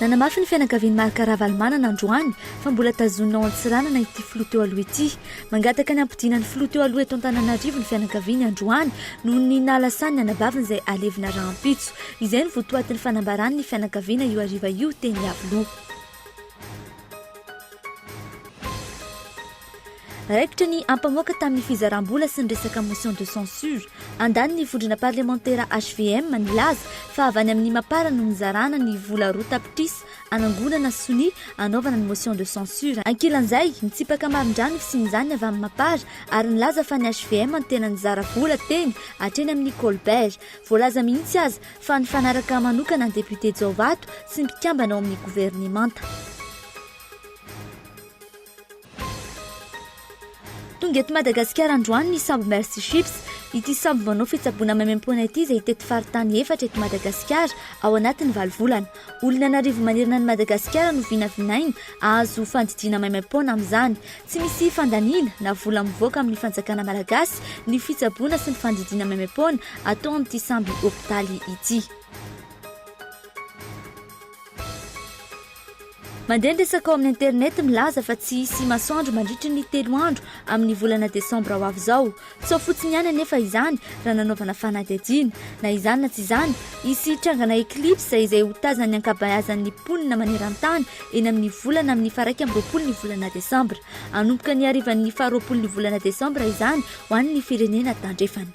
Nanamafy ny fianakavian'i Marc Ravalomanana androany fa mbola tazonina ao Antsiranana ity filoha teo aloha ity. Mangataka ny hampodiana ny filoha teo aloha eto Antananarivo ny fianakaviany androany noho ny nahalasany ny anabaviny izay halevina rahampitso. Izay no votoatin'ny fanambaran'ny fianakaviana io hariva io teny Iavoloha. Raikitra ny ampamoaka tamin'ny fizaram-bola sy ny resaka motion de censure. Andaniny vondrona parlemantera hvm nilaza fa avy any amin'ny Mapar no nizarana ny vola roa tapitrisa anangonana sonia anaovana ny motion de censure. Ankilan'izay, nitsipaka marindrano fisian'izany avy amin'ny Mapar ary nilaza fa ny hvm no tena nizara vola teny hatreny amin'ny Colbert. Voalaza mihitsy aza fa nifanaraka manokana ny député Jaovato sy ny mpikambana ao amin'ny governemanta. Tonga eto Madagasikara androany ny sambo Mercy Ships. Ity sambo manao fitsaboana maimaimpoana ity izay hitety faritany efatra eto Madagasikara ao anatin'ny valo volana. Olona an'arivo manerana an'i Madagasikara no vinavinaina hahazo fandidiana maimaim-poana amin'izany. Tsy misy fandaniana na vola mivoaka amin'ny fanjakana malagasy ny fitsaboana sy ny fandidiana maimaim-poana atao amin'ity sambo hopitaly ity. Mandeha ny resaka ao amin'ny internet milaza fa tsy hisy masoandro mandritry ny telo andro amin'ny volana desambra ho avy izao. Sao fotsiny ihany anefa izany raha nanaovana fanadihadiana. Na izany na tsy izany, hisy hitrangana eclipse izay ho tazan'ny ankabeazan'ny mponina maneran-tany eny amin'ny volana amin'ny faharaika amby roapolo ny volana desambra. Hanomboka ny harivan'ny faharoapolon'ny volana desambra izany ho an'ny firenena tandrefana.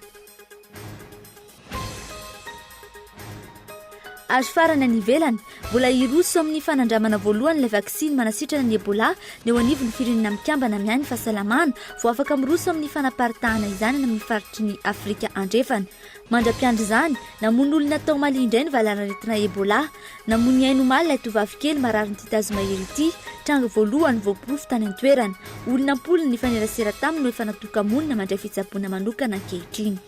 Ary farany any ivelany, mbola hiroso amin'ny fanandramana voalohany ilay vaksiny manasitrana ny Ebola ny eo anivon'ny Firenena Mikambana miahy ny Fahasalamana vao afaka miroso amin'ny fanaparitahana izany any amin'ny faritry ny Afrika Andrefana. Mandra-piandry izany, namono olona tao Mali indray ny valanaretina Ebola. Namoy ny ainy omaly ilay tovovavy kely marary ny titazo mahery ity, tranga voalohany voaporofo tany an-toerana. Olona am-polony nifanerasera taminy no efa natoka-monina mandray fitsaboana manokana ankehitriny.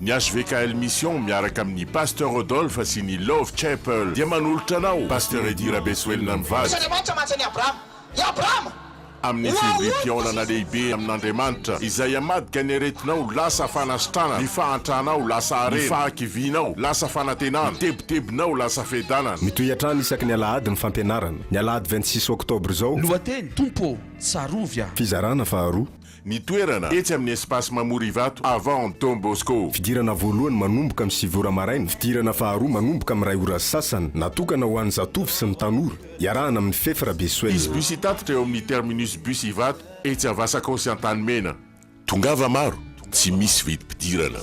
Ny hvkl mission miaraka amin'ny Pasteur Rodolphe sy ny Love Chapel dia manolotra anao Pasteur Eddy Rabesoelina mivady Andriamanitra mantsy an'i Abrahama. I Abrahama! amin'ny fivoriam-pihaonana lehibe amin'Andriamanitra izay hamadika ny aretinao lasa fanasitranana, ny fahantranao lasa harena, ny fahakivianao lasa fanantenana, ny tebitebinao lasa fiadanana. Mitohy hatrany isaky ny alahady ny fampianarana, ny alahady vingt six octobre izao. Lohateny, Tompo ô, tsarovy aho. Fizarana faharoa. Ny toerana, etsy amin'ny Espace Mamorivato, avant Don Bosco. Fidirana voalohany manomboka amin'ny sivy ora maraina, fidirana faharoa manomboka amin'ny iray ora sy sasany, natokana ho an'ny zatovo sy ny tanora, iarahana amin'ny Fef Rabesoel. Hisy bus hitatitra eo amin'ny terminus bus Ivato, etsy Avasakao sy Antanimena. Tongava maro, tsy misy vidim-pidirana.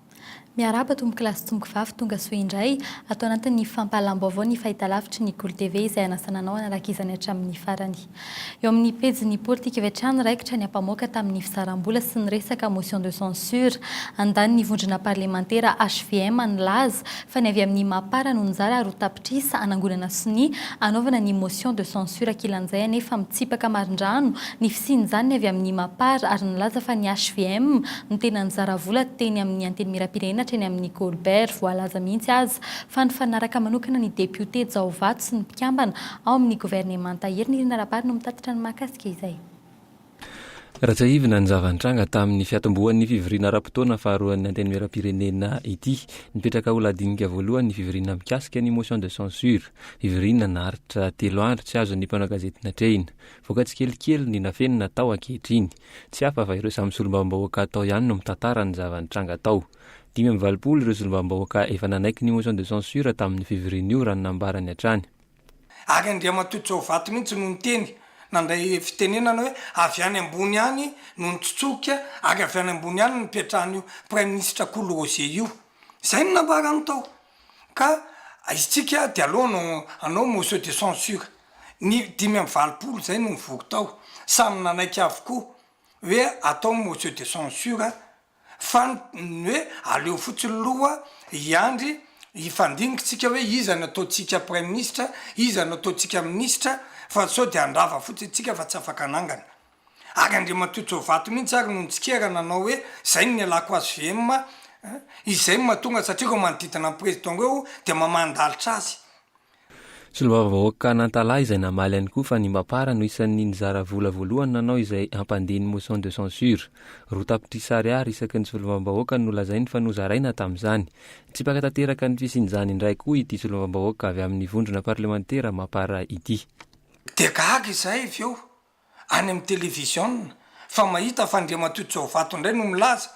Miarahaba tompoko lahy sy tompoko vavy tonga soa indray ato anatin'ny fampahalam-baovao ny fahitalavitry ny Golo TV izay anasana anao hanaraka izany hatramin'ny farany. Eo amin'ny pejin'ny politika avy hatrany raikitra ny ampamoaka tamin'ny fisaram-bola sy ny resaka motion de censure andaniny vondrona parlemantera hvm nilaza fa ny avy amin'ny Mapar no nizara ary ho tapitrisa hanangonana sonia hanaovana ny motion de censure kilan'izay anefa mitsipaka marindrano ny fisian'izany ny avy amin'ny Mapar ary nilaza fa ny hvm no tena nizara vola teny amin'ny Antenimierampirenena hatreny amin'ny Colbert voalaza mihitsy aza fa nifanaraka manokana ny depiote Jaovato sy ny mpikambana ao amin'ny governemanta Herinirina Rabary no mitatitra ny mahakasika izay. Raha tsiahivina ny zava-nitranga tamin'ny fiatombohan'ny fivoriana ara-potoana faharoan'ny Antenimierampirenena ity, nipetraka ho lahadinika voalohany ny fivoriana mikasika ny motion de censure. Fivoriana naharitra telo andro tsy azon'ny mpanao gazety natrehina. Voaka tsikelikely ny nafenina tao ankehitriny. Tsy hafa fa ireo samy solombavambahoaka tao ihany no mitantara ny zava-nitranga tao. Dimy amby valopolo ireo solombavambahoaka efa nanaiky ny motion de censure tamin'io fivoriana io raha ny nambarany hatrany. Ary Andriamatoa Jaovato mihitsy no niteny, nandray fitenenana hoe avy any ambony any no nitsotsoka ary avy any ambony any no nipetrahan'io Praiminisitra Kolo Roger io. Izay no nambarany tao. Ka isika dia aleo hanao hanao motion de censure. Ny dimy amby valopolo izay no nivory tao, samy nanaiky avokoa hoe atao motion de censure. fa ny hoe aleo fotsiny loha hiandry hifandinikintsika hoe iza no ataontsika praiminisitra, iza no ataontsika minisitra fa sao dia handrava fotsiny isika fa tsy afaka hanangana. Ary Andriamatoa Jovato mihintsy ary no nitsikera nanao hoe izay no nialako azy VM, izay no mahatonga satria ireo manodidina an'i Président ireo dia mamandalitra azy. Solombavambahoaka Nantalaha izay namaly ihany koa fa Nimbapara no isan'ny nizara vola voalohany nanao izay hampandin'ny motion de censure. Roa tapitrisa ariary isaky ny solombavambahoaka no lazainy fa nozaraina tamin'izany. Nitsipaka tanteraka ny fisian'izany indray koa ity solombavambahoaka avy amin'ny vondrona parlemantera Mapar ity. Dia gaga izahay avy eo any amin'ny televiziona fa mahita fa Andriamatoa Jaovato indray no milaza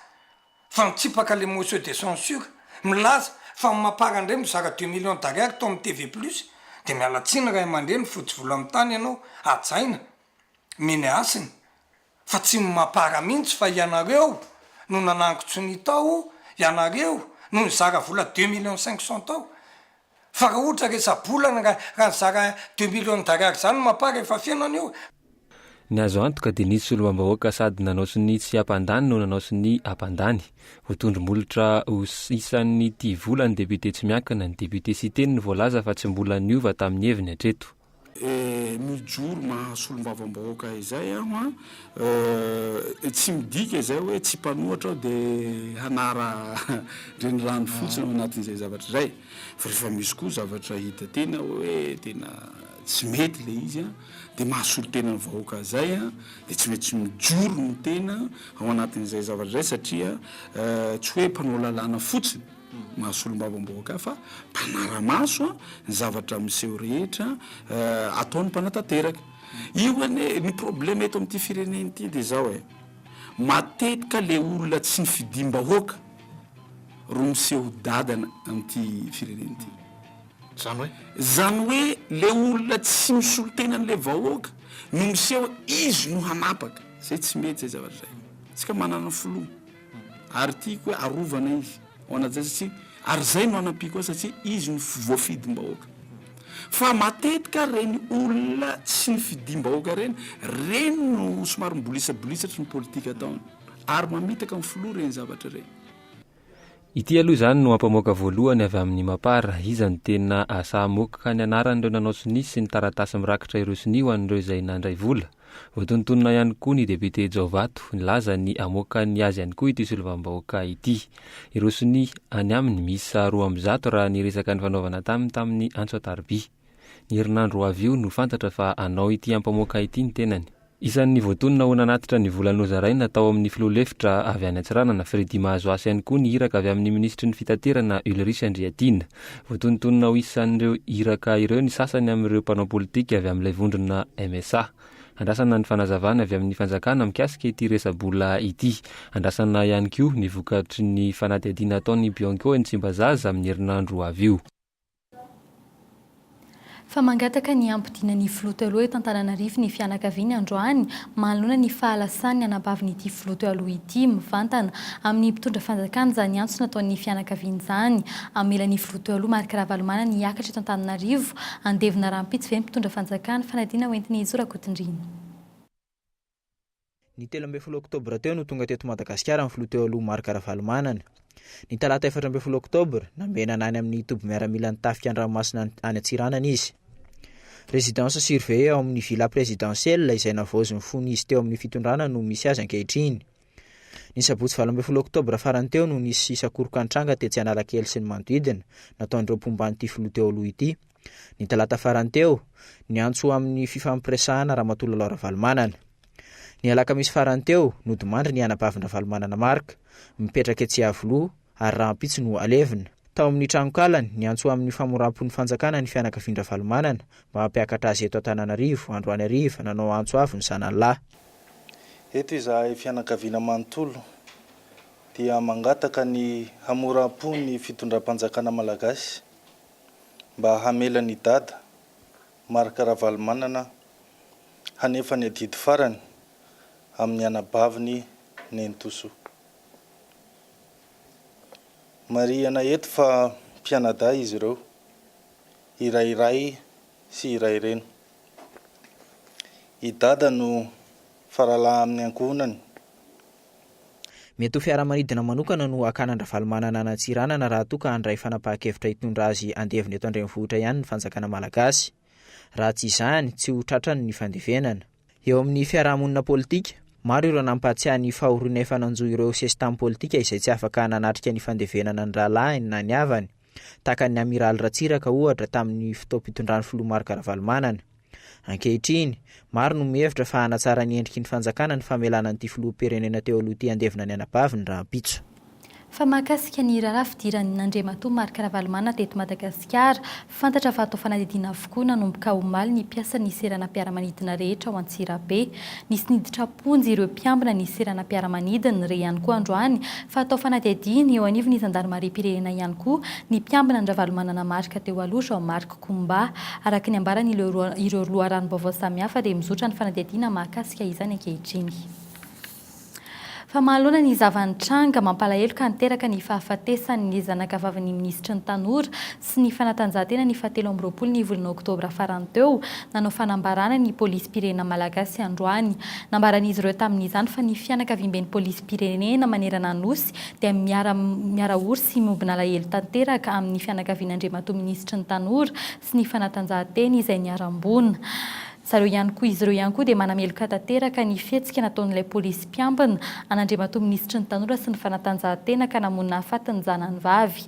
fa mitsipaka ilay motion de censure, milaza fa ny Mapar indray mizara deux millions d'ariary tao amin'ny TV plus dia miala tsiny ray aman-dreny fotsy volo amin'ny tany ianao hajaina meny hasina fa tsy ny Mapar mihitsy fa ianareo no nanangon-tsonia tao, ianareo no nizara vola deux millions cinq cents tao. Fa raha ohatra resa-bolana raha raha nizara deux millions d'ariary zany mapa rehefa feno anio. Ny azo antoka dia nisy solombambahoaka sady nanao sonia tsy hampandany no nanao sonia hampandany. Ho tondro-molotra ho isan'ny tia vola ny député tsy miankina, ny député Siteny no voalaza fa tsy mbola niova tamin'ny heviny hatreto. Mijoro maha solombavambahoaka izay aho an! Tsy midika izay hoe tsy mpanohatra aho dia hanara renirano fotsiny ao anatin'izay zavatra izay. Fa rehefa misy koa zavatra hita tena hoe tena tsy mety ilay izy an! Dia maha solontenan'ny vahoaka ahy izay an! Dia tsy maintsy mijoro ny tena ao anatin'izay zavatra izay satria tsy hoe mpanao lalàna fotsiny. Maha solombavambahoaka ahy fa mpanara-maso ny zavatra miseho rehetra ataon'ny mpanatanteraka. Io anie ny probleme eto amin'ity firenena ity dia izao e, matetika le olona tsy nifidiam-bahoaka ro miseho dadana amin'ity firenena ity. Zany hoe? Zany hoe le olona tsy misolo tena an'le vahoaka no miseho izy no hanapaka. Zay tsy mety zay zavatra zay. Tsika manana filoha. Ary tiako hoe arovana izy ho an'Ajay satria ary zay no anampiako azy satria izy no voafidim-bahoaka. Fa matetika reny olona tsy nifidim-bahoaka reny, reny no somary mibolisabolisatrry ny politika ataony. Ary mamitaka ny filoha reny zavatra reny. Ity aloha izany no ampamoaka voalohany avy amin'ny Mapar, iza no tena sahamoaka ka ny anaran'ireo nanao sonia sy ny taratasy mirakitra ireo sonia ho an'ireo izay nandray vola? Voatonontonona ihany koa ny depiote Jaovato, nilaza ny hamoaka ny azy ihany koa ity solovam-bahoaka ity. Ireo sonia any aminy miisa roa amby zato raha ny resaka nifanaovana taminy tamin'ny antso an-tarobia. Ny herinandro ho avy io no fantatra fa hanao ity ampamoaka ity ny tenany. Isan'ny voatonona ho nanatitra ny vola nozaraina tao amin'ny filoha lefitra avy any Antsiranana, Freddy Mahazoasy ihany koa ny iraka avy amin'ny minisitry ny fitaterana Ulrich Andriatiana. Voatonontonona ho isan'ireo iraka ireo ny sasany amin'ireo mpanao politika avy amin'ilay vondrona MSA. Andrasana ny fanazavana avy amin'ny fanjakana mikasika ity resa-bola ity. Andrasana ihany koa ny vokatry ny fanadihadiana ataon'ny Bianco eny Tsimbazaza amin'ny herinandro ho avy io. fa mangataka ny hampodiana ny filoha teo aloha eto Antananarivo ny fianakaviany androany manoloana ny fahalasan'ny anabavin'ity filoha teo aloha ity, mivantana amin'ny mpitondra fanjakana izany antso nataon'ny fianakaviany izany, hamela ny filoha teo aloha Marc Ravalomanana hiakatra eto Antananarivo, handevina rahampitso ve ny mpitondra fanjakana, fanadina hoentiny hijoro ankotrindrina. Ny telo ambin'ny folo oktobra teo no tonga teto Madagasikara ny filoha teo aloha Marc Ravalomanana. Ny talata efatra ambin'ny folo oktobra, nambenana any amin'ny toby miaramilan'ny tafika an-dranomasina any any Antsiranana izy. Résidence surveillée ao amin'ny Villa Présidentielle izay navaozin'ny fony izy teo amin'ny fitondrana no misy azy ankehitriny. Ny sabotsy valo ambin'ny folo oktobra farany teo no nisy sakorokan-tranga tetsy Analakely sy ny manodidina, nataon'ireo mpomba an'ity filoha teo aloha ity. ny talata farany teo, niantso ho amin'ny fifampiresahana Ramatoa Lalao Ravalomanana. Ny alakamisy farany teo, nodimandry ny anabavin-dRavalomanana Marc, mipetraka etsy Iavoloha, ary rahampitso no alevina. Tao amin'ny tranonkalany, niantso ho amin'ny famoram-pon'ny fanjakana ny fianakavian-dRavalomanana mba hampiakatra azy eto Antananarivo, androany hariva, nanao antso avo ny zanany lahy. Eto izahay fianakaviana manontolo dia mangataka ny hamoram-po ny fitondram-panjakana malagasy mba hamela an'i Dada, Marc Ravalomanana, hanefa ny adidy farany amin'ny anabaviny nenitosoa. Marihina eto fa mpianadahy izy ireo, iray ray sy iray reny. I Dada no faralahy amin'ny ankohonany Mety ho fiaramanidina manokana no hakan'Andravalomanana an' Antsiranana raha toa ka handray fanapahan-kevitra hitondra azy handevina eto an-drenivohitra ihany ny fanjakana malagasy. Raha tsy izany, tsy ho tratrany ny fandevenana. Eo amin'ny fiarahamonina politika, maro ireo nampahatsiahy ny fahoriana efa nanjo ireo sesitany politika izay tsy afaka nanatrika ny fandevenana ny rahalahiny na ny havany. tahaka an'ny Amiraly Ratsiraka ohatra tamin'ny fotoam-pitondran'ny Filoha Marc Ravalomanana. Ankehitriny, maro no mihevitra fa hanatsara ny endriky ny fanjakana ny famelana an'ity Filoham-pirenena teo aloha ity handevina ny anabaviny rahampitso. Fa mahakasika ny raharaha fidiran'ny Andriamatoa Marc Ravalomanana teto Madagasikara, fantatra fa atao fanadihadiana avokoa nanomboka omaly ny mpiasan'ny seranam-piaramanidina rehetra ao Antsirabe. Nisy niditra. Hoy ireo mpiambina ny seranam-piaramanidiny re ihany koa androany fa atao fanadihadiana eo anivon'ny zandarimariam-pirenena ihany koa ny mpiambina an-dRavalomanana Marc teo aloha Jean Marc Koumba. Araka ny ambaran' ireo loharanom-baovao samihafa dia mizotra ny fanadihadiana mahakasika izany ankehitriny. Fa mahaloana ny zava-nitranga, mampalahelo ka niteraka ny fahafatesan'ny zanakavavin'ny minisitry ny tanora, sy ny fanatanjahantena ny fahatelo amby roapolo ny volana oktobra farany teo, nanao fanambarana ny polisim-pirenena malagasy androany. Nambaran'izy ireo tamin'izany fa ny fianakaviamben'ny polisim-pirenena manerana Anosy dia miara miara-ory sy miombona alahelo tanteraka amin'ny fianakavian'Andriamatoa Minisitry ny Tanora sy ny Fanatanjahantena izay niharam-boina zareo ihany koa. Izy ireo ihany koa dia manameloka tanteraka ny fihetsika nataon'ilay polisim-piambina an'Andriamatoa Minisitry ny Tanora sy ny Fanatanjahantena ka namoy nahafaty ny zanany vavy.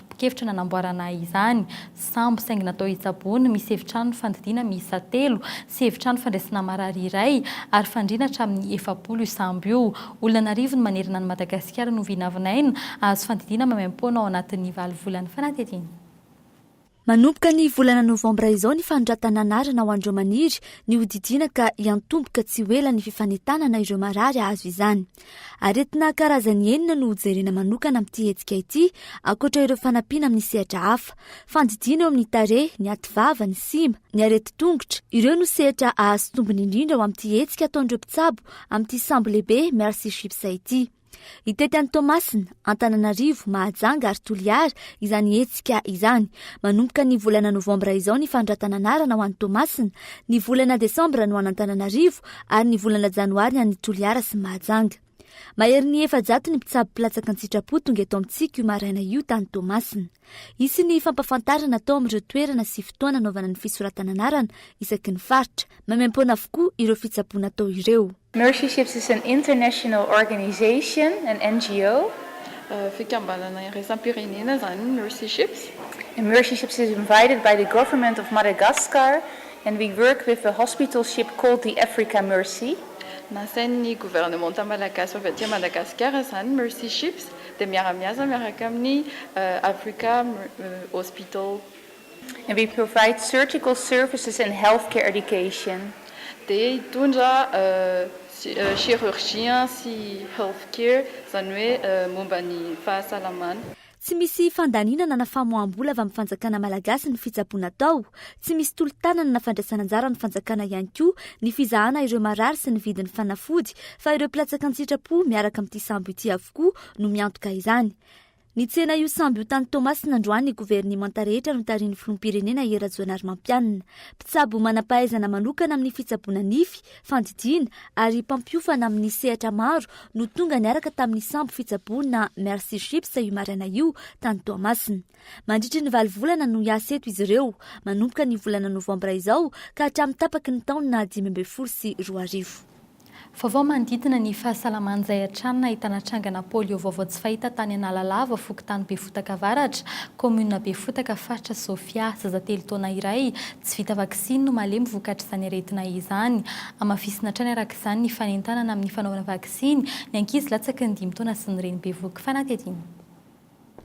tokevitra nanamboarana izany sambo saingy natao hitsaboana, misy efitrano fandidiana miisa telo sy efitrano fandraisana marary iray ary fandriana hatramin'ny efapolo io sambo io. Olona an'arivony manerana an'i Madagasikara no vinavinaina hahazo fandidiana maimaimpoana ao anatin'ny valo volana fanadihadiana. Manomboka ny volana novambra izao ny fanoratana anarana ho an'ireo maniry ny hodidiana ka hiantomboka tsy ho ela ny fifanentanana ireo marary hahazo izany. Aretina karazany enina no hojerena manokana amin'ity hetsika ity, ankoatra ireo fanampiana amin'ny sehatra hafa. Fandidiana eo amin'ny tarehy, ny ativava, ny sima, ny aretin-tongotra. Ireo no sehatra hahazo tombony indrindra ao amin'ity hetsika ataon'ireo mpitsabo amin'ity sambo lehibe Mercy Ships ity. Hitety an'i Toamasina, Antananarivo, Mahajanga ary Toliara izany hetsika izany. Manomboka ny volana novambra izao ny fanondratana anarana ho any Toamasina, ny volana desambra no any Antananarivo ary ny volana janoary ny any Toliara sy Mahajanga. Maherin'ny efajato ny mpitsabo mpilatsaka an-tsitrapo tonga eto amintsika io maraina io tany Toamasina. Hisy ny fampafantarana atao amin'ireo toerana sy fotoana anaovana ny fisoratana anarana isaky ny faritra. Maimaim-poana avokoa ireo fitsaboana atao ireo. Mercy Ships is an international organization, an NGO. Fikambanana iraisam-pirenena izany ny Mercy Ships. The Mercy Ships is invited by the government of Madagascar and we work with the hospital ship called the Africa Mercy. Nasain'ny governemanta malagasy avy aty Madagasikara izany ny Mercy Ships dia miara-miasa miaraka amin'ny Africa Hospital. We provide surgical services and healthcare education, dia hitondra chirurgien sy healthcare, izany hoe momba ny fahasalamana. Tsy misy fandaninana na famoaham-bola avy amin'ny fanjakana malagasy ny fitsaboana atao. Tsy misy tolo-tanana na fandraisana anjara ny fanjakana ihany koa ny fizahana ireo marary sy ny vidin'ny fanafody fa ireo mpilatsaka an-tsitrapo miaraka amin'ity sambo ity avokoa no miantoka izany. Nitsena io sambo io tany Toamasina androany ny governemanta rehetra notarihin'ny filoham-pirenena Hery Rajoanarimampianina. Mpitsabo manam-pahaizana manokana amin'ny fitsaboana nify, fandidiana ary mpampiofana amin'ny sehatra maro no tonga niaraka tamin'ny sambo fitsaboana Mercy Ships io maraina io tany Toamasina. Mandritry ny valo volana no hiasa eto izy ireo, manomboka ny volana novambra izao ka hatramin'ny tapaky ny taona dimy ambin'ny folo sy roa arivo. Vaovao manodidina ny fahasalaman'izay hatrany nahitana trangana polio vaovao tsy fahita tany Analalava, fokontany Befotaka Avaratra, kaominina Befotaka, faritra Sofia. Zaza telo taona iray tsy vita vaksiny no malemy vokatr'izany aretina izany. Hamafisina hatrany araka izany ny fanentanana amin'ny fanaovana vaksiny ny ankizy latsaky ny dimy taona sy ny reny bevohoka fanadihadiana.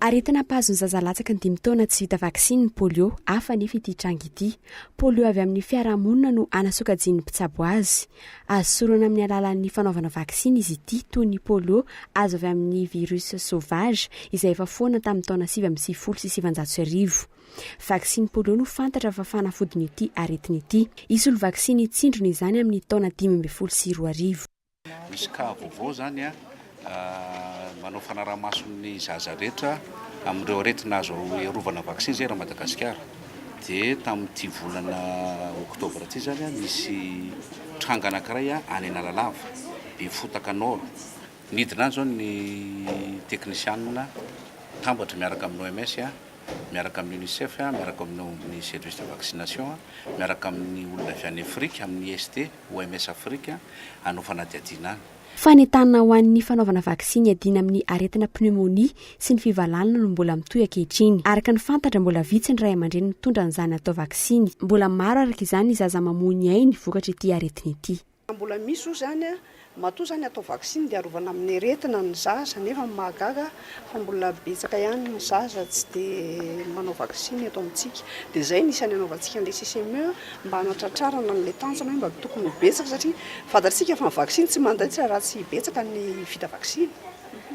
Aretina mpahazo ny zaza latsaky ny dimy taona tsy vita vaksiny ny polio. Hafa anefa ity tranga ity. Polio avy amin'ny fiarahamonina no hanasokajian'ny mpitsabo azy. Azo sorona amin'ny alalan'ny fanaovana vaksiny izy ity, toy ny polio azo avy amin'ny virus sauvage izay efa foana tamin'ny taona sivy amby sivifolo sy sivanjato sy arivo. Vaksiny polio no fantatra fa fanafodin'ity aretina ity. Hisolo vaksiny hitsindrona izany amin'ny taona dimy ambin'ny folo sy roa arivo. Misy cas vaovao zany a, manao fanaraha-maso ny zaza rehetra amin'ireo aretina azo iarovana vaccin zay ra Madagasikara. Dia tamin'ity volana octobre ity zany a, nisy tranga anankiray a any Analalava, Befotaka Nord. Nidina any zao ny teknisianina mpitambatry miaraka amin'ny OMS a, miaraka amin'ny UNICEF a, miaraka amin'ny service de vaccination a, miaraka amin'ny olona avy any Afrika amin'ny IST. OMS Afrika hanao fanadihadiana any. Fanentanana ho an'ny fanaovana vaksiny hiadiana amin'ny aretina pneumonie sy ny fivalanana no mbola mitohy ankehitriny. Araka ny fantatra, mbola vitsy ny ray aman-dreny mitondra an'izany atao vaksiny. Mbola maro araka izany ny zaza mamoy ny ainy vokatr'ity aretina ity. Raha mbola misy oa izany, matoa izany atao vaksiny dia arovana amin'ny aretina ny zaza nefa ny mahagaga fa mbola betsaka ihany ny zaza tsy dia manao vaksiny eto amintsika dia izay no isan'ny hanaovantsika an'ilay CCME mba hanatratrarana an'ilay tanjona hoe mba tokony ho betsaka satria fantatsika fa ny vaksiny tsy mandaitra raha tsy betsaka ny vita vaksiny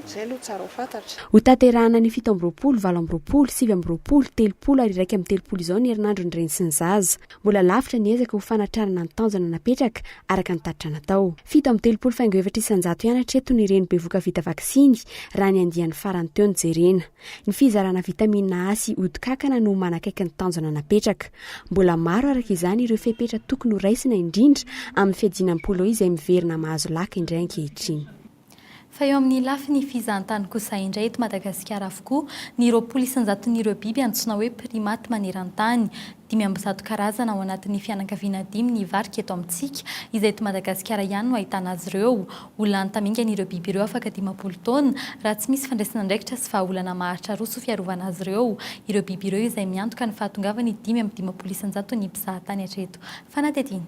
izay aloha tsara ho fantatra. Hotanterahana ny fito amby roapolo, valo amby roapolo, sivy amby roapolo, telopolo ary iraika amby telopolo izao ny herinandron'ny reny sy ny zaza. Mbola lavitra ny ezaka ho fanatrarana ny tanjona napetraka, araka ny tatitra natao. Fito amby telopolo faingo efatra isan-jato ihany hatreto ny ireny bevoka vita vaksiny, raha ny andiany farany teo no jerena. Ny fizarana vitamina A sy ody kankana no manakaiky ny tanjona napetraka. Mbola maro, araka izany, ireo fepetra tokony ho raisina, indrindra amin'ny fiadiana ny polio izay miverina mahazo laka indray ankehitriny. Fa eo amin'ny lafiny fizahantany kosa indray eto Madagasikara avokoa ny roapolo isan-jaton'ireo biby antsoina hoe primates maneran-tany. Dimy amby zato karazana ao anatin'ny fianakaviana dimy ny varika eto amintsika, izay eto Madagasikara ihany no ahitana azy ireo. Ho lany tamingana ireo biby ireo afaka dimampolo taona, raha tsy misy fandraisana andraikitra sy vahaolana maharitra roa soa fiarovana azy ireo ireo biby ireo izay miantoka ny fahatongavan'ny dimy amby dimampolo isan-jaton'ny mpizahatany hatreto. Fanadihadiana.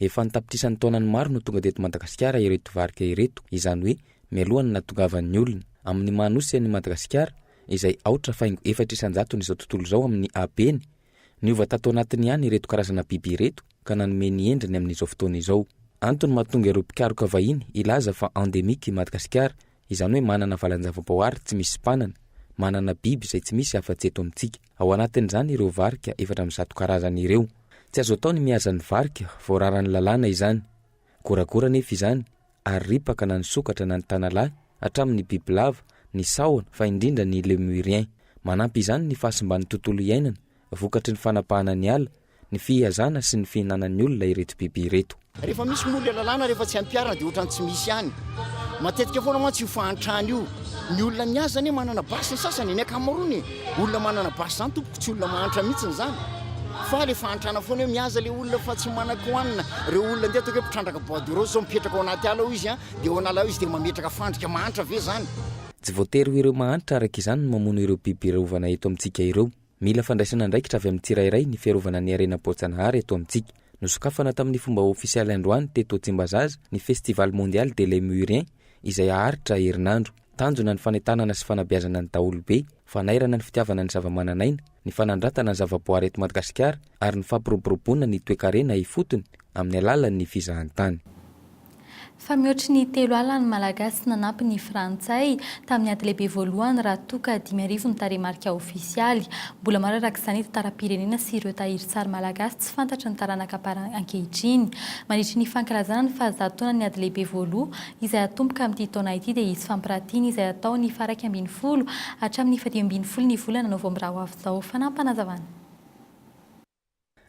Efa an-tapitrisany taonany maro no tonga teto Madagasikara ireto varika ireto, izany hoe mialohan'ny nahatongavan'ny olona. Amin'ny maha nosy an'i Madagasikara, izay aotra faingo efatra isan-jatony izao tontolo izao amin'ny habeny, niova tato anatiny ihany ireto karazana biby ireto ka nanome ny endriny amin'izao fotoana izao. Antony mahatonga ireo mpikaroka vahiny hilaza fa endemique i Madagasikara, izany hoe manana valan-javaboahary tsy misy mpanana, manana biby izay tsy misy afa-tsy eto amintsika. Ao anatin'izany ireo varika efatra amby zato karazany ireo. Tsy azo atao ny mihaza ny varika vao raran'ny lalàna izany. Goragora anefa izany ary ripaka na ny sokatra na ny tanalahy hatramin'ny bibilava, ny sahona fa indrindra ny Lemurien. Manampy izany ny fahasimban'ny tontolo iainana vokatry ny fanapahana ny ala ny fihazana sy ny fihinanan'ny olona ireto biby ireto. Rehefa misy moa ilay lalàna, rehefa tsy ampiharina dia ohatran'ny tsy misy ihany. Matetika foana mantsy io fahantrana io. Ny olona mihaza anie manana basy ny sasany e, ny ankamaroany e. Olona manana basy izany tompoko, tsy olona mahantra mihitsy izany. Fa ilay fahantrana foana hoe mihaza ilay olona fa tsy manan-ko hanina. Ireo olona ndeha ataoko hoe mpitrandraka bois de rose izao, mipetraka ao anaty ala ao izy an, dia ao an'ala ao izy dia mametraka fandrika, mahantra ve izany? Tsy voatery ho ireo mahantra araka izany no mamono ireo biby rovana eto amintsika ireo. Mila fandraisana andraikitra avy amin'ny tsirairay ny fiarovana ny harena boajanahary eto amintsika. Nosokafana tamin'ny fomba ofisialy androany teto Tsimbazaza ny Festival Mondial des Lémuriens izay haharitra herinandro. Tanjona ny fanentanana sy fanabeazana ny daholobe, fanairana ny fitiavana ny zavamananaina, ny fanandratana ny zavaboary eto Madagasikara, ary ny fampiroboroboana ny toekarena ifotony amin'ny alalan'ny fizahantany. Fa mihoatry ny telo ala ny Malagasy nanampy ny Frantsay tamin'ny ady lehibe voalohany raha toa ka dimy arivo ny tarehimarika ofisialy. Mbola maro araka izany ny tantaram-pirenena sy ireo tahirin-tsary malagasy tsy fantatry ny taranaka par ankehitriny. Mandritry ny fankalazana ny fahazato taonan'ny ady lehibe voaloha izay hatomboka amin'ity taona ity dia hisy fampiratiana izay hatao ny faha iraika ambin'ny folo hatramin'ny fahadimy ambin'ny folo ny volana novambra ho avy izao. Fanampanazavan'.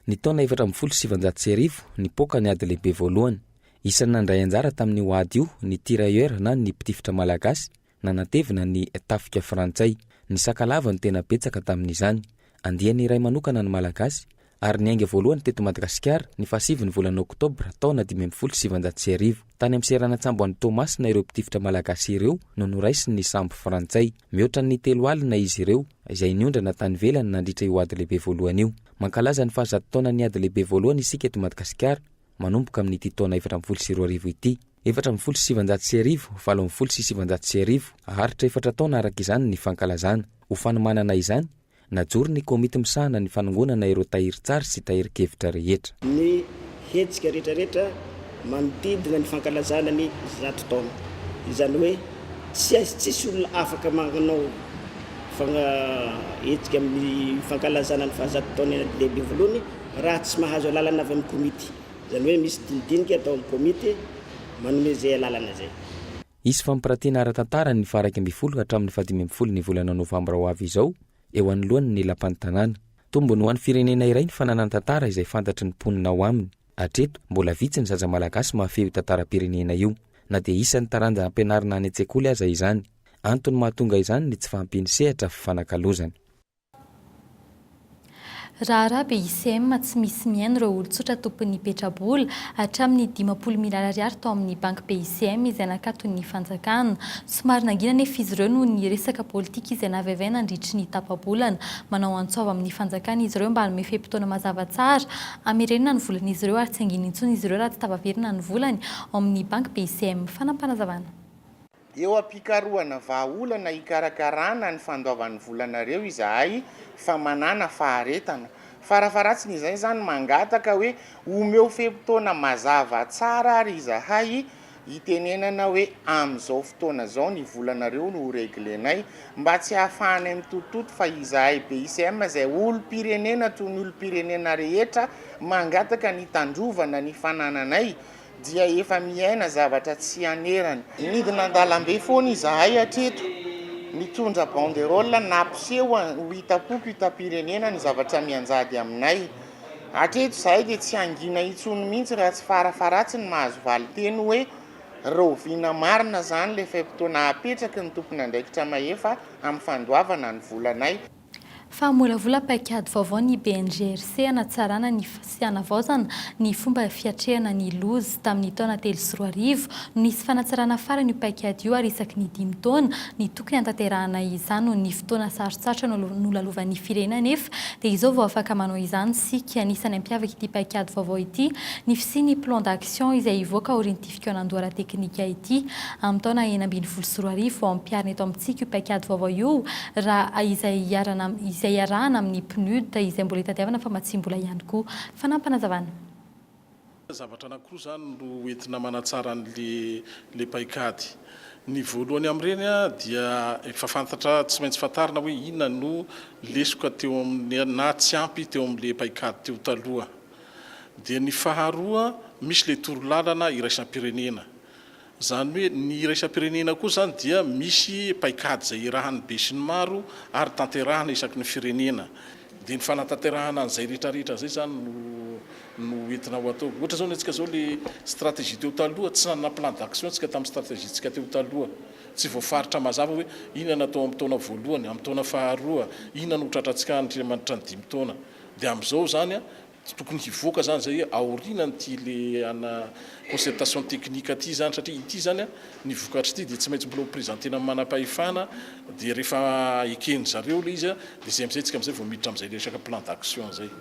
Ny taona efatra ambin'ny folo sy sivanjato sy arivo, nipoaka ny Ady Lehibe Voalohany. Isan'ny nandray anjara tamin'io ady io ny tirailleurs na ny mpitifitra malagasy nanatevina ny tafika frantsay. Ny sakalava no tena betsaka tamin'izany. Andiany iray manokana ny Malagasy, ary niainga voalohany teto Madagasikara ny fahasivin'ny volana oktobra taona dimy ambin'ny folo sy sivanjato sy arivo. Tany amin'ny seranan-tsambo any Toamasina ireo mpitifitra malagasy ireo no noraisin'ny sambo frantsay. Mihoatra ny telo alina izy ireo, izay niondrana tany ivelany nandritra io Ady Lehibe Voalohany io. Mankalaza ny fahazato taonan'ny Ady Lehibe Voalohany isika eto Madagasikara, manomboka amin'ity taona efatra ambin'ny folo sy roa arivo ity. Efatra ambin'ny folo sy sivinjato sy arivo, valo ambin'ny folo sy sivinjato sy arivo, haharitra efatra taona araka izany ny fankalazana. Ho fanomanana izany, Najoro ny komity misahana ny fanongonana ireo tahirin-tsary sy tahirin-kevitra rehetra. Ny hetsika rehetrarehetra manodidina ny fankalazana ny zato taona. Izany hoe tsy aiz tsisy olona afaka manao hetsika amin'ny fankalazana ny fahazato taon'ny Lehibevoloany raha tsy mahazo alalana avy amin'ny komity. Izany hoe misy dinidinika atao amin'ny komity manome izay alalana izay. Hisy fampirantiana ara-tantara ny faha-iraika ambin'ny folo hatramin'ny fahadimy ambin'ny folo ny volana novambra ho avy izao eo anoloan' ny Lapan'ny Tanàna. Tombony ho an'ny firenena iray ny fananany tantara izay fantatry ny mponina ao aminy. Hatreto, mbola vitsy ny zaza malagasy mahafehy io tantaram-pirenena io, na dia isan'ny taranja ampianarina any an-tsekoly aza izany. Antony mahatonga izany ny tsy fahampian'ny sehatra fifanakalozana. Raharaha be ICM tsy misy mihaino ireo olon-tsotra tompon'ny petrabola, hatramin'ny dimampolo miliara ariary tao amin'ny banky be ICM izay nakaton'ny fanjakana. Somary nangina anefa izy ireo noho ny resaka politika izay naviavy ahy nandritry ny tapa-bolana. Manao antso avo amin'ny fanjakana izy ireo mba hanome fe-potoana mazava tsara hamerenana ny volan'izy ireo ary tsy hangina intsony izy ireo raha tsy tafaverina ny volany ao amin'ny banky be ICM. Fanapanazavana. Eo am-pikarohana vahaolana hikarakarana ny fandoavan'ny volanareo izahay fa manàna faharetana. Farafaharatsiny izay izany mangataka hoe omeo fe-potoana mazava tsara ary izahay hitenenana hoe amin'izao fotoana izao ny volanareo no ho reglenay mba tsy hahafahanay mitotototo fa izahay BICM izay olom-pirenena toy ny olom-pirenena rehetra mangataka ny hitandrovana ny fanananay dia efa miaina zavatra tsy hanerany. Nidina an-dalambe foana izahay hatreto, nitondra banderole nampiseho ho hitam-poko hitam-pirenena ny zavatra mianjady aminay. Hatreto izahay dia tsy hangina intsony mihitsy raha tsy farafaharatsiny mahazo valin-teny hoe rahoviana marina izany ilay fe-potoana apetraky ny tompon'andraikitra mahefa amin'ny fandoavana ny volanay. fa hamolavola paikady vaovao ny BNGRC hanatsarana ny sy hanavaozana ny fomba fiatrehana ny loza. Tamin'ny taona telo sy roa arivo no nisy fanatsarana farany io paikady io ary isaky ny dimy taona ny tokony hanatanterahana izany. Noho ny fotoana sarotsarotra nolalovan'ny firenena anefa dia izao vao afaka manao izany isika. Anisan'ny hampiavaka ity paikady vaovao ity ny fisian'ny plan d'action izay hivoaka aorian'ity Ity kaonandoha ara-teknika ity amin'ny taona enina ambin'ny folo sy roa arivo vao ampiharina eto amintsika io paikady vaovao io raha izay iharana izay iarahana amin'ny PNUD izay mbola itadiavana famatsiam-bola ihany koa. Fanampinazavana. Zavatra anankiroa izany no entina manatsara an'ilay paikady. Ny voalohany amin'ireny dia efa fantatra tsy maintsy fantarina hoe inona no lesoka teo amin'ny na tsy ampy teo amin'ilay paikady teo taloha. Dia ny faharoa misy ilay torolalana iraisam-pirenena. Izany hoe ny iraisam-pirenena koa izany dia misy paikady izay iarahan'ny besinimaro ary tanterahina isaky ny firenena. Dia ny fanatanterahana an'izay rehetrarehetra izay izany no no entina ho atao. Ohatra izao ny antsika izao ilay stratégie teo taloha tsy nanana plan d'action isika tamin'ny stratégie-ntsika teo taloha. Tsy voafaritra mazava hoe inona no atao amin'ny taona voalohany, amin'ny taona faharoa, inona no ho tratrantsika andriamanitra ny dimy taona. Dia amin'izao izany dia tokony hivoaka izany izay aorianan'ity le ana concertation technique ity izany satria ity izany ny vokatr'ity dia tsy maintsy mbola ho presentena amin'ny manam-pahefana dia rehefa eken'ny zareo ilay izy dia izay amin'izay isika amin'izay vao miditra amin'izay resaka plan d'action izay.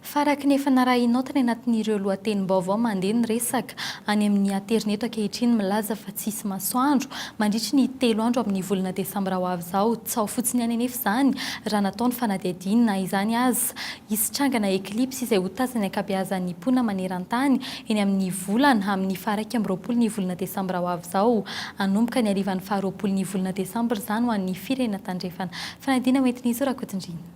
Fa araka ny efa narahinao tany anatin'ireo lohatenim-baovao mandeha ny resaka any amin'ny aterineto ankehitriny milaza fa tsy hisy masoandro mandritry ny telo andro amin'ny volana desambra ho avy izao, Tsy ao fotsiny ihany anefa izany raha natao ny fanadihadiana na izany aza. Hisy trangana eklipsy izay ho tazan'ny ankabeazan'ny mponina maneran-tany eny amin'ny volana amin'ny faharaika amby roapolo ny volana desambra ho avy izao. Hanomboka ny harivan'ny faharoapolo ny volana desambra izany ho an'ny firenena tandrefana. Fanadihana hoentin'izy io Rakotondriana.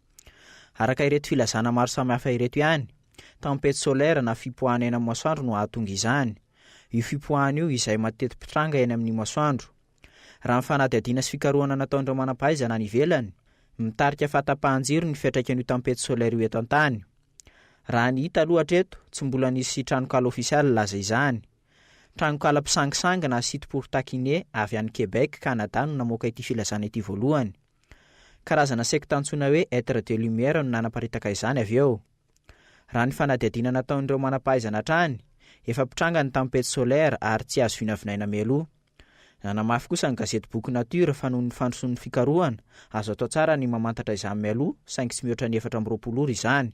Araka ireto filazana maro samihafa ireto ihany, tempête solaire na fipoahana eny amin'ny masoandro no hahatonga izany. Io fipoahana io izay mateti-pitranga eny amin'ny masoandro. Raha ny fanadihadiana sy fikarohana nataon'ireo manam-pahaizana any ivelany, mitarika fahatapahan-jiro ny fiantraikan'io tempête solaire io eto an-tany. Raha ny hita aloha hatreto, tsy mbola nisy tranonkala ofisialy nilaza izany. Tranonkala mpisangisangy na site pour taquiner avy any Québec, Canada no namoaka ity filazana ity voalohany. Karazana sekta antsoina hoe Etres de Lumière no nanaparitaka izany avy eo. Raha ny fanadihadiana nataon'ireo manam-pahaizana hatrany, efa mpitranga ny tempete solaire ary tsy azo vinavinaina mialoha. Nanamafy kosa ny gazetiboky Nature fa noho ny fandrosoan'ny fikarohana, azo atao tsara ny mamantatra izany mialoha saingy tsy mihoatra ny efatra amby roapolo ora izany.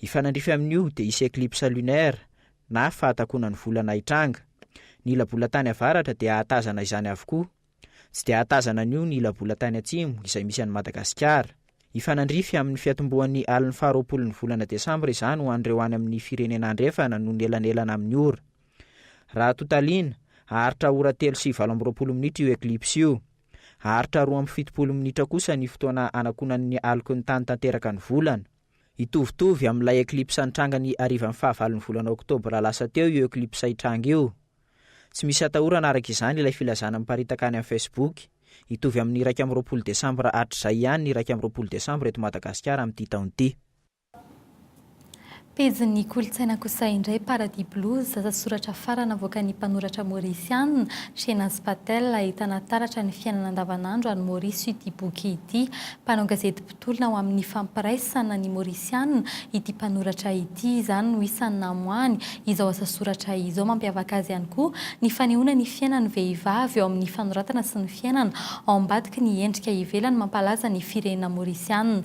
Hifanandrify amin'io dia hisy eclipse lunaire na fahatakonan'ny volana hitranga. Ny ila-bolantany avaratra dia hahatazana izany avokoa. Tsy dia hahatazana an'io ny ila-bolantany atsimo izay misy an'i Madagasikara. Hifanandrify amin'ny fiatombohan'ny alin'ny faharoapolon'ny volana desambra izany ho an'ireo any amin'ny firenena andrefana noho ny elanelana amin'ny ora. Raha totaliana, haharitra ora telo sy valo amby roapolo minitra io eclipse io. Haharitra roa amby fitopolo minitra kosa ny fotoana hanakonan'ny aloky ny tany tanteraka ny volana. Hitovitovy amin'ilay eklipsa nitranga ny harivan'ny fahavalon'ny volana oktobra lasa teo io eklipsa hitranga io. Tsy misy atahorana araka izany ilay filazana miparitaka any amin'ny Facebook. Hitovy amin'ny iraika amby roapolo desambra hatrizay ihany ny iraika amby roapolo desambra eto Madagasikara amin'ity taona ity. Pejin'ny kolontsaina kosa indray, Paradis Blues, asa soratra farany navoakan'ny mpanoratra Maorisiana, Shehnaz Patel, ahitana taratra ny fiainana andavanandro any Maorisy ity boky ity. Mpanao gazety mpitolona ho amin'ny fampiraisana ny Maorisiana ity mpanoratra ity, izany no isany namoahany izao asa soratra izao. Mampiavaka azy ihany koa ny fanehoana ny fiainan'ny vehivavy eo amin'ny fanoratana sy ny fiainana ao ambadiky ny endrika ivelany mampalaza ny firenena Maorisiana.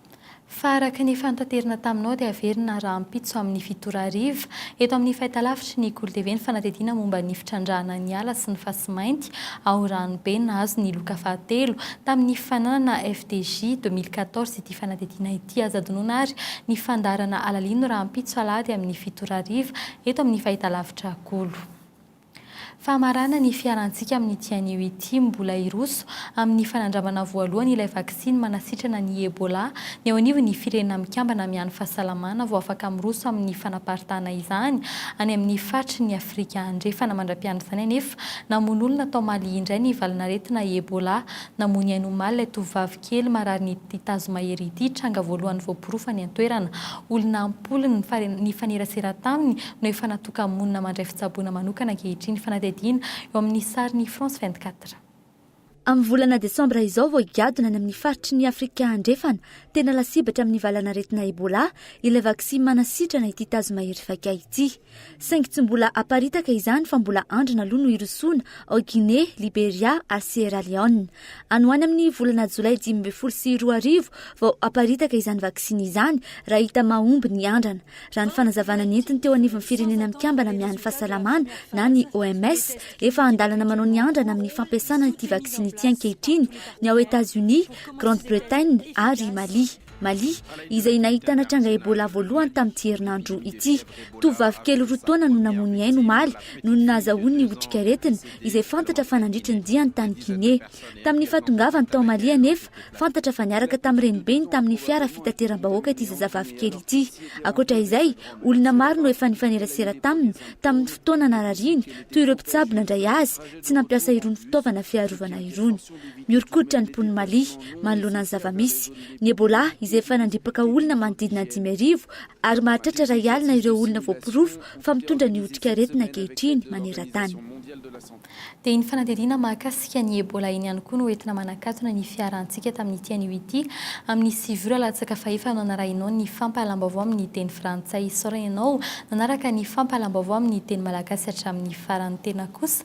Fa araka ny efa notaterina taminao dia haverina rahampitso amin'ny fito ora hariva, eto amin'ny fahitalavitry ny Goul TV ny fanadihadiana momba ny fitrandrahana ny ala sy ny fasimainty ao Ranobe nahazo ny loka fahatelo tamin'ny fananana FDJ deux mille quatorze ity fanadihadiana ity aza adinoina ary ny fandaharana alalino rahampitso alahady amin'ny fito ora hariva eto amin'ny fahitalavitra Goul. Fahamarana ny fiharantsika amin'ity anio ity, mbola hiroso amin'ny fanandramana voalohany ilay vaksiny manasitrana ny Ebola ny eo anivon'ny Firenena Mikambana Mihahy ny Fahasalamana vao afaka miroso amin'ny fanaparitahana izany any amin'ny faritry ny Afrika Andrefana. Mandra-pian'izany anefa, namono olona tao Mali indray ny valanaretina Ebola, namono ainy omaly ilay tovovavy Kely mararin'ity tazomahery ity tranga voalohany voaporofo any an-toerana. Olona am-polony nifanerasera taminy no efa natoka-monina mandray fitsaboana manokana ankehitriny, fanadihadiana eo amin'ny sarin'i France vingt-quatre. Amin'ny volana desambra izao vao higadona any amin'ny faritry ny Afrika Andrefana, tena lasibatra amin'ny valanaretina Ebola, ilay vaksiny manasitrana ity tazomahery vaika ity. Saingy tsy mbola aparitaka izany fa mbola andrina aloha no hirosoana ao Guinée, Liberia ary Sierra Leone. Any ho any amin'ny volana jolay dimy ambin'ny folo sy roa arivo vao haparitaka izany vaksiny izany raha hita mahomby ny andrana. Raha ny fanazavana nentiny teo anivon'ny Firenena Mikambana Miahy ny Fahasalamana na ny OMS, efa an-dalana manao ny andrana amin'ny fampiasana ity vaksiny ity ankehitriny ny ao Etats-Unis, Grande-Bretagne ary Mali. Mali, izay nahitana tranga Ebola voalohany tamin'ity herinandro ity. Tovovavy kely roa taona no namoy ny ainy omaly noho ny nahazahoany ny otrikaretina, izay fantatra fa nandritra ny diany tany Guinée. Tamin'ny fahatongavany tao Mali anefa, fantatra fa niaraka tamin'ny renibeny tamin'ny fiara fitateram-bahoaka ity zazavavy kely ity. Ankoatra izay, olona maro no efa nifanerasera taminy tamin'ny fotoana narariany, toy ireo mpitsabo nandray azy tsy nampiasa irony fitaovana fiarovana irony. Mihoron-koditra ny mponin'i Mali manoloana ny zava-misy. Ny Ebola, izay efa nandripaka olona manodidina ny dimy arivo ary mahatratra iray alina ireo olona voaporofo fa mitondra ny otrikaretina ankehitriny maneran-tany. Dia ny fanadihadiana mahakasika ny Ebola eny ihany koa no entina manakatona ny fiaharantsika tamin'ity anio ity, amin'ny sivy ora latsaka fahefa no hanarahinao ny fampahalam-baovao amin'ny teny frantsay. Isaorana ianao nanaraka ny fampahalam-baovao amin'ny teny malagasy hatramin'ny farany. Tena kos.